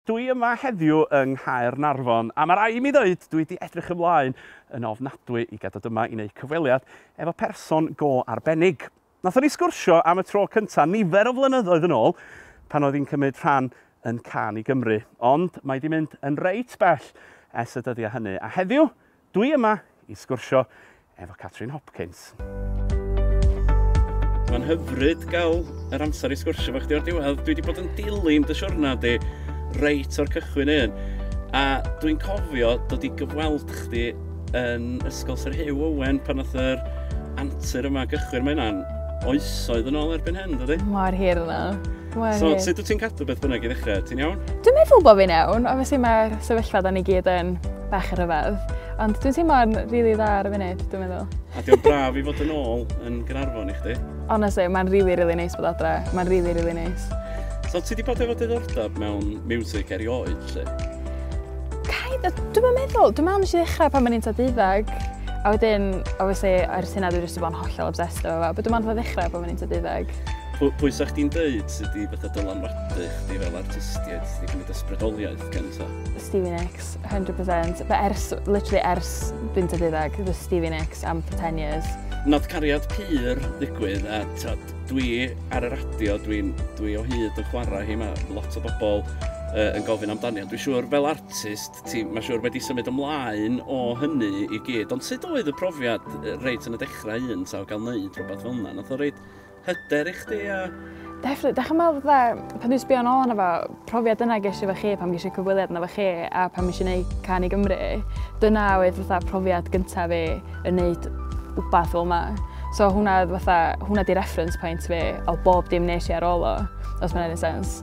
Dwi yma heddiw yng Nghaernarfon a ma' rai' i mi ddeud dwi 'di edrych ymlaen yn ofnadwy i gadwd yma i neud cyfweliad efo person go arbennig. Nathon ni sgwrsio am y tro cynta nifer o flynyddoedd yn ôl pan oedd 'i'n cymyd rhan yn Cân i Gymru, ond mae 'di mynd yn reit bell es y dyddia hynny a heddiw Dwi yma i sgwrsio efo Catrin Hopkins. Mae'n hyfryd gael yr amser i sgwrsio efo chdi o'r diwedd. Dwi wedi bod yn dilyn dy siwrna di reit o'r cychwyn un. A dwi'n cofio dod i gyfweld chdi yn Ysgol Sir Hugh Owen pan oedd yr antur yma gychwyn. Mae hynna'n oesoedd yn ôl erbyn hyn, dydy? Mor hir yna. Wel, So, hei. sut wyt ti'n cadw beth bynnag i ddechrau? Ti'n iawn? Dwi'n meddwl bod fi'n iawn, obviously mae'r sefyllfa da ni gyd yn bach yn rhyfedd. Ond dwi'n teimlo'n rili really dda ar y funud, dwi'n meddwl. A diolch braf i fod yn ôl yn Gynarfon i chdi. Honestly, mae'n rili, really, rili really neis bod adre. Mae'n rili, really, rili really neis. So, ti di bod efo diddordeb mewn music erioed, lle? Kind of, dwi'n meddwl, dwi'n meddwl nes i ddechrau pan mae'n un tad iddeg. A wedyn, obviously, ar y syna dwi'n rhywbeth bod yn hollol obsessed efo fe. But dwi'n meddwl ddechrau pan mae'n un tad iddeg. Pwy, pwy sa'ch di'n dweud sydd wedi fatha dylanwadu chdi fel artistiaid, chdi gwneud ysbrydoliaeth gen ta? Stevie Nicks, 100%. Fe ers, literally ers fynd y ddeuddag, the Stevie Nicks am for 10 years. Nath cariad pur ddigwydd a tod, dwi ar y radio, dwi, dwi o hyd yn chwarae hi, mae lot o bobl uh, yn gofyn amdani. Ond dwi'n siŵr fel artist, ti, mae siŵr wedi symud ymlaen o hynny i gyd. Ond sut oedd y profiad reit yn y dechrau un ta o gael wneud rhywbeth fel yna? Nath o reit hyder i chdi a... Definitely. Dach chi'n meddwl fatha, pan dwi'n sbio nôl arno fo, profiad yna ges i efo chi pan ges i cyfweliad yna efo chi a pan nes i wneud Can i Gymru, dyna oedd fatha profiad gyntaf fi yn wneud wbath fel yma. So hwnna oedd fatha, hwnna di reference point fi o bob dim nes i ar ôl o, os mae'n neud yn sense.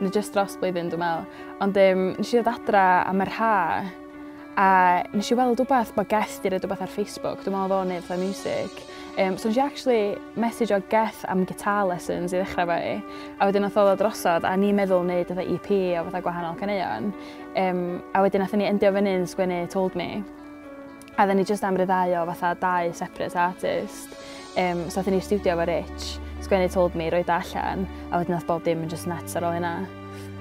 Neu jyst dros blwyddyn dwi'n meddwl. Ond um, nes i ddod adra am yr ha a nes i weld rhywbeth bod Geth di roed rhywbeth ar Facebook. Dwi'n meddwl o'n ei fatha music. Um, so nes i actually message o Geth am guitar lessons i ddechrau fe. A wedyn oedd oedd o drosod a ni'n meddwl wneud fatha EP o fatha gwahanol caneuon. Um, a wedyn nath ni endio fyny'n sgwennu Told Me. A oedden ni jyst am ryddhau o fatha dau separate artist. Um, so oedden ni studio efo Rich, sgwennu Told Me, roi da allan, a wedyn oedd bob dim yn just nuts ar ôl hynna.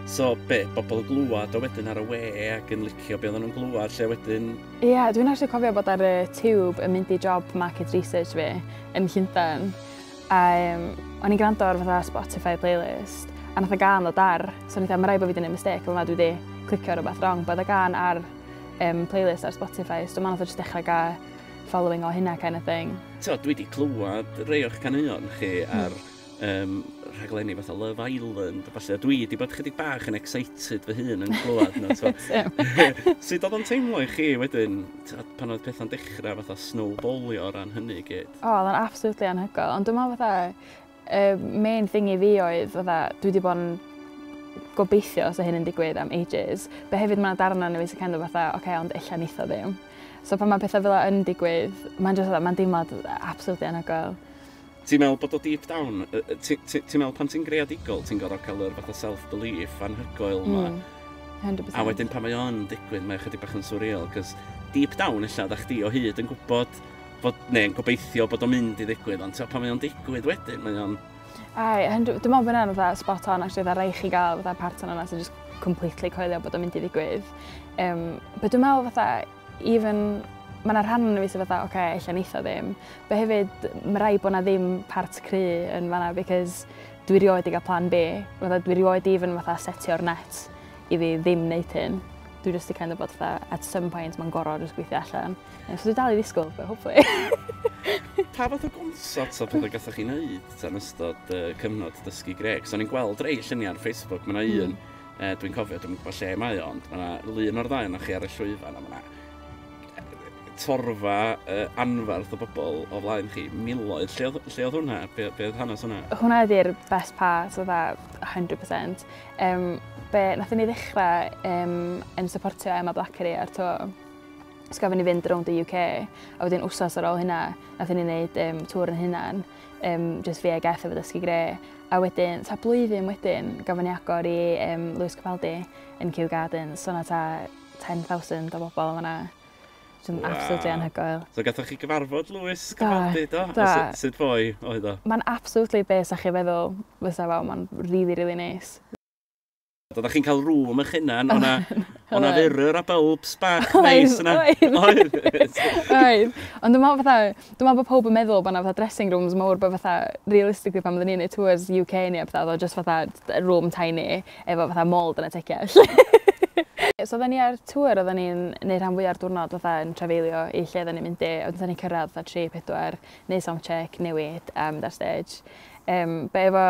So be, bobl yn glwad o wedyn ar y we ac yn licio be oedden nhw'n glwad lle wedyn? Ie, yeah, dwi'n actually cofio bod ar y tube yn mynd i job market research fi yn Llundain. A um, o'n i'n gwrando ar fatha Spotify playlist, a nath y gan o dar, so o'n i'n dweud, mae rai bod fi wedi gwneud mistake, ond na dwi wedi clicio ar rhywbeth wrong, bod y gan ar um, playlist ar Spotify, so mae'n just dechrau gael following o hynna kind of thing. Tio, dwi wedi clywed rei o'ch caneuon chi hmm. ar um, rhaglenni fatha Love Island a falle, dwi wedi bod chydig bach yn excited fy hun yn clywed nhw. Sut oedd o'n teimlo i chi wedyn pan oedd pethau'n dechrau fatha snowballio o ran hynny gyd? O, oh, oedd o'n absolutely anhygol, ond dwi'n meddwl fatha Y main thing i fi oedd fatha dwi wedi bod yn gobeithio os o hyn yn digwydd am ages. Be hefyd mae'n darna yn y face kind of fatha, oce, okay, ond illa nitho ddim. So pan mae pethau fel yn digwydd, mae'n just, mae'n deimlad absolutely anhygoel. Ti'n meddwl bod o deep down, ti'n meddwl pan ti'n greadigol, ti'n gorfod cael yr fath o self-belief anhygoel yma. Mm. 100%. A wedyn pan mae o'n digwydd, mae chydig bach yn surreal, cos deep down illa, da chdi o hyd yn gwybod bod, neu yn gobeithio bod o'n mynd i ddigwydd, ond ti'n pan mae o'n digwydd wedyn, mae o'n... Ai, dwi'n meddwl bod yna'n fatha spot on, actually, dda rei chi gael fatha partner yna sy'n just completely coelio bod o'n mynd i ddigwydd. Um, but dwi'n meddwl fatha, even, mae yna rhan yn y fi sy'n fatha, oce, okay, eich neitho ddim. But hefyd, mae rai bod yna ddim part cry yn fanna, because dwi rioed i gael plan B. Fatha, dwi rioed i even fatha setio'r net i fi ddim wneud hyn. Dwi just i kind of bod fatha, at some point mae'n gorau jyst gweithio allan. Ie, so dwi dal i ddisgwyl, but hopefully. Pa fath o gonsorts a pethau gathoch chi wneud tan ystod uh, cyfnod dysgu greg? So ni'n gweld rei lluniau ar Facebook, mae yna hmm. un, mm. uh, dwi'n cofio, dwi'n gwybod lle mae o, ond mae yna lun o'r ddau yna chi ar y llwyfan, a mae yna torfa uh, anfarth o bobl o flaen chi, miloedd. Lle oedd, lle oedd hwnna? Be, be oedd hanes hwnna? Hwnna ydy'r best part, so that 100%. Um, be, nath ni ddechrau um, yn supportio Emma Blackery ar to So gafon ni fynd rownd y UK a wedyn wsos ar ôl hynna nathon ni neud um, tŵr yn hynna'n um, just fi a Geth efo dysgu gre. A wedyn, ta blwyddyn wedyn, gafon ni agor i um, Lewis Capaldi yn Kew Gardens. So na ta 10,000 o bobl yma. Dwi'n wow. absolutely anhygoel. So gathoch chi gyfarfod Lewis Capaldi, do? do. A sut, sut fwy oedd o? Mae'n absolutely be sa chi feddwl fysa fo. Mae'n really, really nice. Oeddach chi'n cael rŵm eich hunan, o'na, o'na fyrrwr a bulbs bach neis yna. Oedd, oedd. oedd. Ond dwi'n meddwl fatha, dwi'n meddwl bod pob yn meddwl bod yna fatha dressing rooms mawr, bod fatha, realistically pan oeddwn ni'n neud tours UK ni, fatha, oedd just fatha room tiny, efo fatha mold yn y tecia. so oedden ni ar tour, oedden ni'n neud rhan fwy o'r diwrnod fatha yn trefeilio i lle oedden ni'n mynd i, oedden ni'n cyrraedd fatha 3-4, neud sound check, newid, um, dar stage. Um, be efo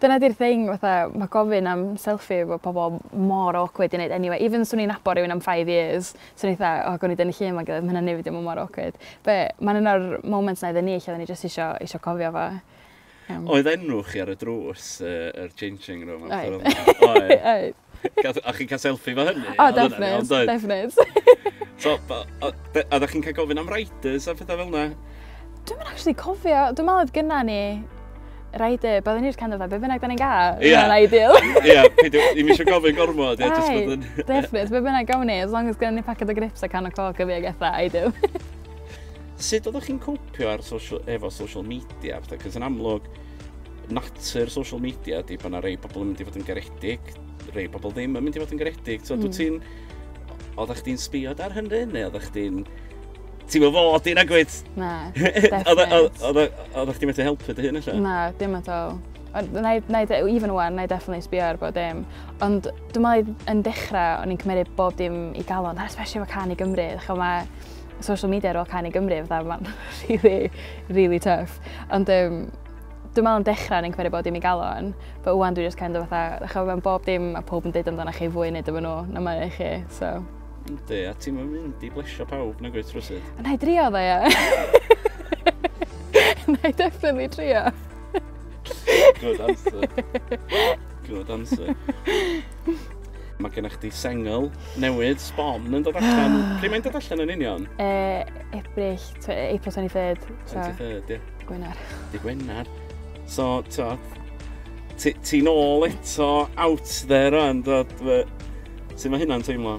Dyna 'di'r thing fatha ma' gofyn am selfie efo pobol mor awkward i neud eniwe even swn i'n nabo rywun am five years swn i fatha o gown ni dynnu llun 'fo'n gilydd ma' hynna'n neud fi deimlo mor awkward. Be' ma'n un o'r moments 'na iddon ni lle odden ni jyst isio isio cofio fo. Yym. Oedd enw chi ar y drws yy yr changing room a petha fel 'na? Oedd. Oedd. A chi'n cael selfie efo hynny? O, defnydd, defnydd. so, a ddech chi'n cael gofyn am riders a phethau fel yna? Dwi'n mynd actually cofio, dwi'n meddwl oedd gyna ni rider, byddwn ni'r kind of fe, be bynnag da ni'n gael, yeah. mae'n ideal. Ie, yeah, peidio, i mi eisiau gofyn gormod, ie, just bod yn... Defnydd, be bynnag gawn ni, as long as gyda ni packet o grips a can o coc y fi ag eitha, ideal. Sut oeddech chi'n cwpio ar social, efo social media, cos yn amlwg, natur social media ydy bod yna rei pobl yn mynd i fod yn garedig, rei pobl ddim yn mynd i fod yn garedig. So, mm. dwi ti'n... Oeddech chdi'n sbiod ar hynny, neu oeddech chdi'n... Ti'n mynd fod i'n agwyd? Na, Oeddech chdi'n methu helpu dy hun allan? Na, dim at all. Even one, na i definitely sbio ar bod dim. Ond dwi'n meddwl yn dechrau, o'n i'n cymryd bob dim i galon, especially efo can i Gymru. Mae social media ar ôl canu Gymru, fatha mae'n really, really tough. Ond um, dwi'n meddwl yn dechrau yn enghraifft bod dim i galon, but wwan dwi'n just kind of fatha, ddech chi'n meddwl bob dim a pob yn dweud amdano chi fwy neu dyma nhw, na mae chi, so. Ynddi, a ti'n mynd i blesio pawb na gweithio rwysydd? Na i drio dda, ia. Na i definitely drio. Good answer. Good answer. Mae gennych chdi sengl newydd, Sbon, yn dod allan. Pryd mae'n dod allan yn union? E, Ebrill, tw- April 23rd. So, 23rd, ie. Gwener. Di Gwener. So, t'o, ti- ti'n ôl eto out there o'n dod... Sut mae hynna'n teimlo?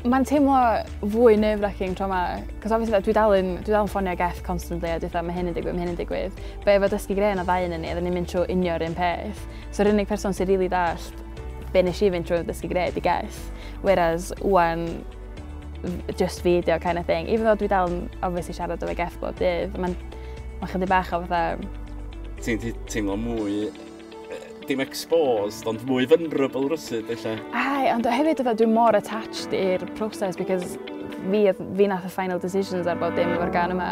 Mae'n teimlo fwy nerve-wracking tro yma, cos obviously dwi dal yn, dwi dal yn ffonio Geff constantly a dwi'n mae hyn yn digwydd, mae hyn yn digwydd. Be efo dysgu gre yn o ddau yn ni, oedden ni'n mynd trwy unio'r un peth. So yr unig person sy'n rili really dallt Be nes i fynd trwy oedd dysgu gwneud, I guess. Whereas, wan, just fi ydi o kind of thing. Even though dwi dal yn obviously siarad o fe gell bob dydd, mae'n ma chydig bach o fatha... Ti'n teimlo mwy dim exposed, ond mwy vulnerable rwsyd, lle. Ai, ond hefyd dwi mor attached i'r proses, because fi, fi nath y final decisions ar bod dim o'r gan yma.